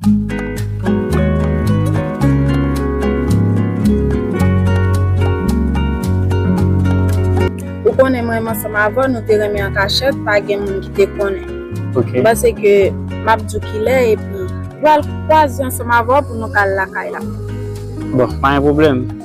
Ou konnen mwen menm ansanm avè w nou te renmen an kachèt pa gen moun ki te konnen. Ok. M panse ke m ap di w kilè epi. Pral kwaze ansanm avè w pou nou ka al lakay la. Bon, pa gen pwoblèm.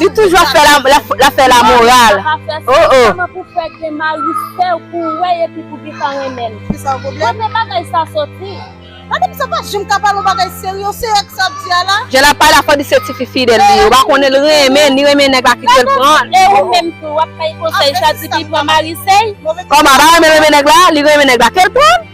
Li toujou ap fè la moral oh oh. Jan lap pale a fò di se tifi fidèl li ye ou pa konnen li renmen ni renmen nèg la kitel pranl. Kòman li pa renmen renmen nèg la li renmen nèg la kel pranl.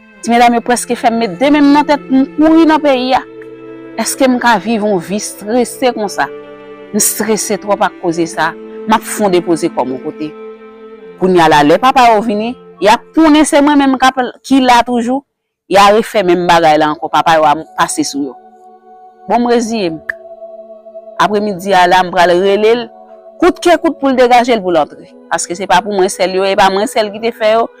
Ti medam yo preske fèm met 2 menm nan tèt poum kouri nan peyi a. Eskem ka viv yon vi strese konsa? M strese twòp ak koze sa, map fon depoze kòm yon kote. Kounya la lè papa yo vini, yap konnen se mwen menm kap ki la toujou, ya refè menm bagay la ankò papa yo a pase sou yo. Bon m reziyem. Apre midi a la m pral relel kout ke kout poul degajel poul antre. Paske se pa pou mwen sèl yo e pa mwen sèl ki te fè yo.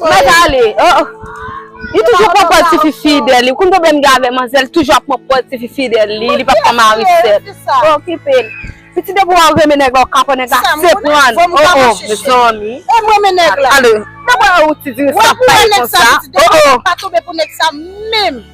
Magali, oh oh Li toujou pran pòz tifi fidèl li, ou konn pwoblèm li gen avè manzè li toujou ap pran pòz tifi fidèl li, li pap pran mari sèt. Ou okipe l. Piti depi wè ou renmen nèg la ou kapon nèg la se pran l, oh oh mezanmi. E m renmen nèg la. Allo, depi wè ou ti diri sa pa ye konsa, oh oh.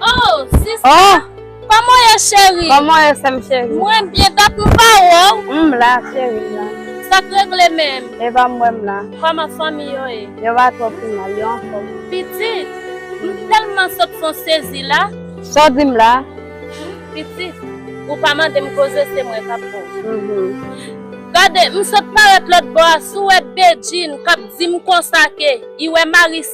Oh sista oh. Koman ye cheri? Koman ye sèm cheri? Mwen byen dat m pa wè w. M la cheri m la. Sa k regle menm? E pa m wè m la. Koman fanmi yo ye? Yo va twò pi mal, yo anfòm. Pitit, m tèlman sot fon sezi la. Sa w di m la? Pitit, ou pa mande m koze se mwen k ap bon. Gade, m sot parèt lòtbò a, si w wè Bedjine k ap di m konsa ke li wè Maryse.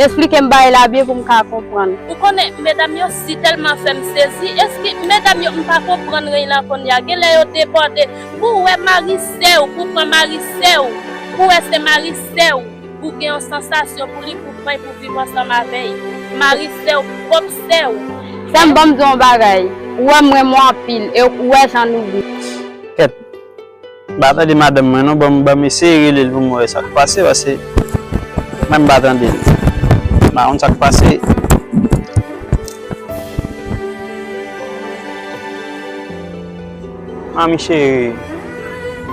Esplike m bagay la byen pou m ka konprann. Ou konnen medam yo si telman fem sezi eski medam yo m pa konprann reny lan konnya genlè yo debòde pou ou wè mari sèw pou pran mari sèw pou wè se mari sèw ou gen yon sansasyon pou li pou pranl pou viv ansanm avèy mari sèw pwòp sèw. Sèm banm di w yon bagay ou wèm renmen w anpil e ou wè jan nou gou. Kèt. Mpa tande madanm mwen non banm banm eseye relel pou mwen wè sak pase pase mwen mpa tandel mpa konn sak pase. Manmi chérie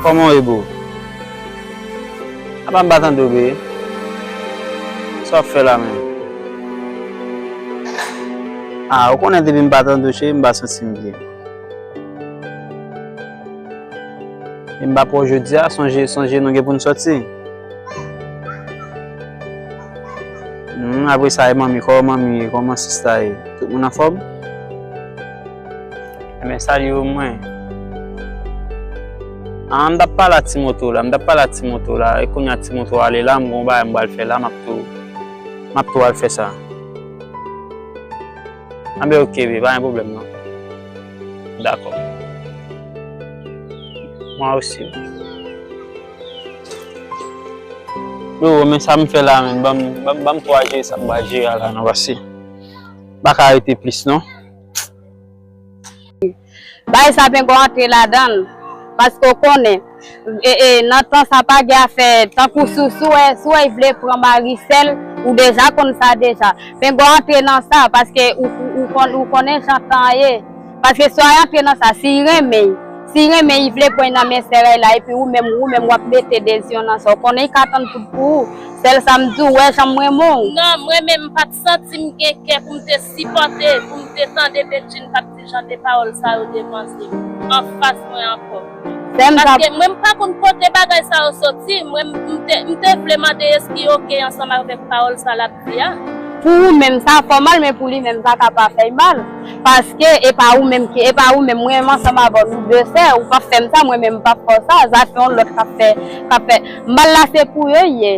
Koman w ye boo? Apa m pa tande w bee? Sa w ap fè la menm? Ah ou konnen depi m pa tande w chérie m pa santi m byen. Em bak wè w jodi a sonje sonje nou gen pou n sòti Humm apre sa e manmi kòman manmi ye kòman sista ye tout moun anfòm Enben salye yo mwen An m t ap pale a ti moto la m t ap pale a ti moto la e kounye a ti moto a ale la m gen yon bagay m pral fè la m ap tou m ap tou al fè sa Anben ok bby pa gen pwoblèm non. Dakò. Mwen osi. Yo, men sa m fè la menm. Ban m, ban m 3 je sa m ba je a la non paske m pa ka rete plis non. Bay sa pengo antre ladan l paske w konnen. Nan tan sa pa gen afè tankou sou sou wè sou wè y vle pran mari sèl ou deja konn sa deja pengo antre nan sa paske ou konn ou konnen jan tan an ye paske sou a antre nan sa siy renmen y siy renmen y vle pran y nan men sèl la epi ou menm ou menm wap mete dezyon nan sa ou konnen y ka tann tout pou ou sèl sa m di w wè jan m renmen w. Non mwen menm m pat santi m gen kè pou m te sipòte pou m te tande Bedjine pat Jan de pawòl sa yo devanse m anfas mwen ankò. Paske mwen m pa konn kote bagay sa yo soti, mwen m te vle mande eski ok ansanm avèk pawòl sa l ap di a. Pou ou menm sa fè w mal men pou li menm sa ka pa fè l mal. Paske e pa ou menm ki e pa ou menm mwen menm ansanm avè w nou de fè, ou pap fè m sa mwen menm m pap fè w sa, zafè yon lòt k ap fè k ap fè mal la se pou yo l ye.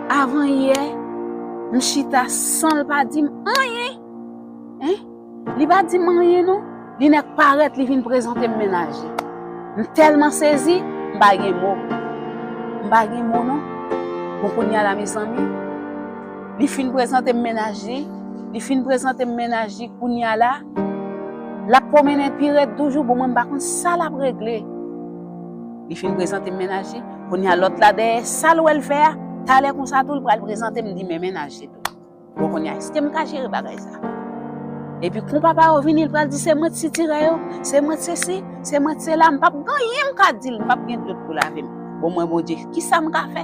Avan yè m chita san l pa di m anyen hein li pa di m anyen non li nèk parèt li vin prezante m mennaje m tèlman sezi m pa gen mo m pa gen mo non bon kounya la mezanmi li fin prezante m mennaj li li fin prezante m mennaj li kounya la l ap pwomennen pi rèd toujou bon mwen m pa konn sa l ap regle. Li fin prezante m mennaj li, kounye a lòt la dèyè sa l wè l fè a, talè konsa tou l pral prezante m li men mennaj li tou. Bon kounye a èske m ka jere bagay sa? Epi kon papa yo vini l pral di se mwen t sitirè yo, se mwen t sesi, se mwen t sela, m p ap gen anyen m ka di l, m p ap gen dlo pou lave m. Bon mwen Bondye, kisa m ka fè?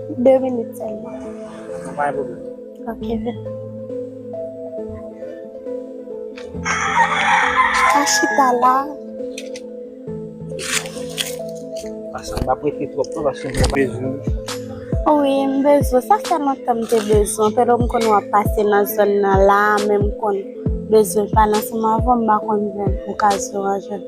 2 minit selman. Sa pa yon pwoblem. Ok vin. An chita la. Asa m pa prete twop non paske m bezwen. Wi m bezwen. Sa fè lontan m te bezwen. Pero m konn wap pase nan zòn nan la men m konn bezwen pa nan seman avèw m pa konn jwenn okazyon an jwenn.